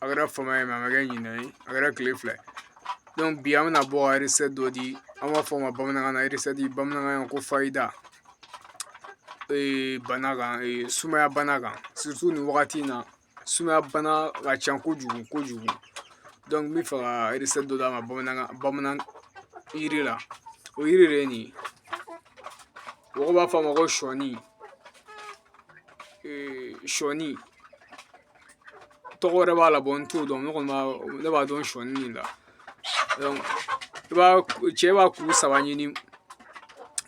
a kɛra fama ye a ma kɛ ɲinɛ ye a kɛra kile fila ye bi an bɛna bɔ recette dɔ di an b'a fɔ o ma bamanankan na bamanankan na ko fayida bana kan sumaya bana kan surtout nin wagati in na sumaya bana ka ca kojugu kojugu n b'a fɛ ka recette dɔ d'aw ma bamanankan bamanan yiri la o yiri de ye nin ye mɔgɔw b'a fɔ a ma ko sɔni sɔni tɔgɔ wɛrɛ b'a la bon n t'o dɔn ne kɔni b'a ne b'a dɔn sɔɔni nin la i b'a cɛ b'a kuru saba ɲini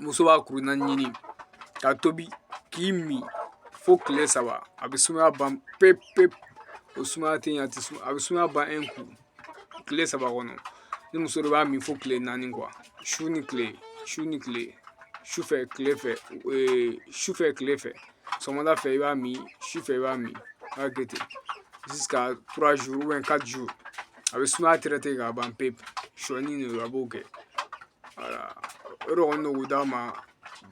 muso b'a kuru naani ɲini k'a tobi k'a ji min fo tile saba a bɛ sumaya ban pewu pewu o sumaya tɛ ɲɛ a tɛ suma a bɛ sumaya ban ku tile saba kɔnɔ ni muso de i b'a min fo tile naani quoi su ni tile su ni tile sufɛ tile fɛ sufɛ tile fɛ sɔgɔmada fɛ i b'a min sufɛ i b'a min a b'a kɛ ten jusqu'à trois jours ou bien quatre jours a bɛ sumaya traité k'a ban pewu sɔɔni de don a b'o kɛ wala o de kɔni don k'o d'a ma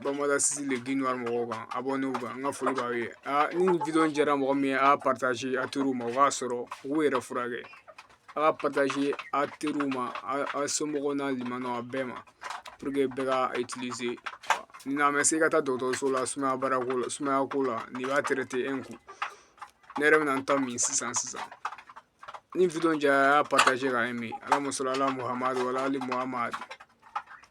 bamanan sisi de bin ka mɔgɔw kan a bɔ n'u ka n ka foli b'aw ye aa ni nin jara mɔgɔ min ye a y'a a teriw ma o k'a sɔrɔ u k'u yɛrɛ furakɛ a ka a teriw ma a somɔgɔw n'a limanaw a bɛɛ ma bɛɛ ka n'an bɛ se ka taa dɔgɔtɔrɔso la sumaya baara ko la sumaya ko la nin b'a kun ne yɛrɛ bɛna n ta min sisan sisan ni jara a y'a ka ɲi alahuma sali ala muhamadu wa ala ali muhamadu